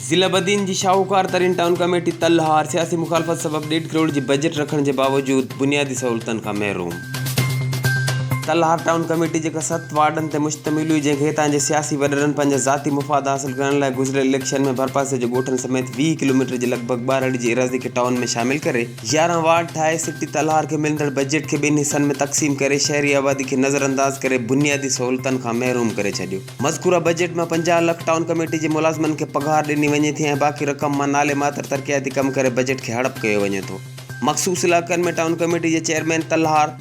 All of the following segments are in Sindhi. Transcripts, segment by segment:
ضلع بدين جي شاهوڪار ترين ٽائون ڪميٽي تل هار سياسي مخالفت سبب ڏيڍ ڪروڙ جي بجيٽ رکڻ جي باوجود بنيادي سهولتن کان محروم. تل هار ٽائون ڪميٽي جيڪا ست وارڊن تي مشتمل هئي جنهن کي هتان جي سياسي وڏڙن پنهنجا ذاتي مفاد حاصل ڪرڻ لاء گذريل اليڪشن ۾ ڀرپاسي جي ڳوٺن سميت ويهه ڪلوميٽر جي لڳ ڀڳ ٻارهڙي جي ايراضي کي ٽائون ۾ شامل ڪري يارهن وارڊ ٺاهي سٽي تلهار کي ملندڙ بجيٽ کي ٻن حصن ۾ تقسيم ڪري شهري آبادي کي نظرانداز ڪري بنيادي سهولتن کان محروم ڪري ڇڏيو مذڪوره بجيٽ مان پنجاهه لک ٽائون ڪميٽي جي ملازمن کي پگهار ڏني وڃي ٿي ۽ باقي رقم مان نالي ماتر ترقياتي ڪم ڪري بجيٽ کي هڙپ ڪيو وڃي ٿو مخصوص علائقن ۾ ٽائون ڪميٽي جي چيئرمين تلهار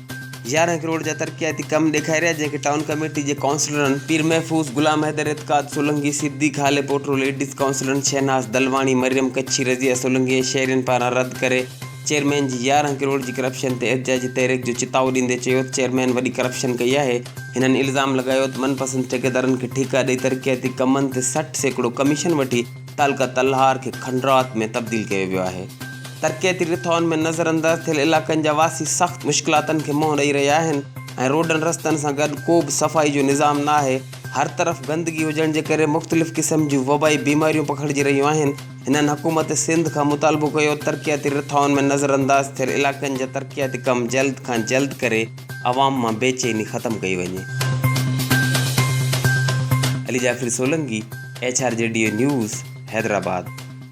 يارهن ڪروڙ جا ترقياتي ڪم ڏيکاريا جنهن کي ٽائون ڪميٽي جي ڪائونسلرن پير محفوظ، غلام حيدر، اعتقاد سولنگي، صديق هالي پوٽرو، ليڊيز ڪائونسلرن شهناز دلواڻي، مريم ڪڇي، رضيه سولنگي ۽ شهرين پاران رد ڪري چيئرمين جي يارهن ڪروڙ جي ڪرپشن تي احتجاجي تحريڪ جو چتائو ڏيندي چيوته چيئرمين وڏي ڪرپشن ڪئي آهي هنن الزام لڳايوته من پسند ٺيڪيدارن کي ٺيڪا ڏئي ترقياتي ڪمن تي سٺ سيڪڙو ڪميشن وٺي تعلقه تلهار کي کنڊرات ۾ تبديل ڪيو ويو آهي. ترقياتي رٿائن ۾ نظر انداز ٿيل علائقن جا واسي سخت مشڪلاتن کي منهن ڏئي رهيا آهن ۽ روڊن رستن سان گڏ ڪو به صفائي جو نظام نه آهي. هر طرف گندگي هجڻ جي ڪري مختلف قسم جون وبائي بيماريون پکڙجي رهيون آهن. هنن حڪومت سنڌ کان مطالبو ڪيو ترقياتي رٿائن ۾ نظر انداز ٿيل علائقن جا ترقياتي ڪم جلد کان جلد ڪري عوام مان بي چيني ختم ڪئي وڃي. Ali Jafri Solangi, H R G D A news, Hyderabad.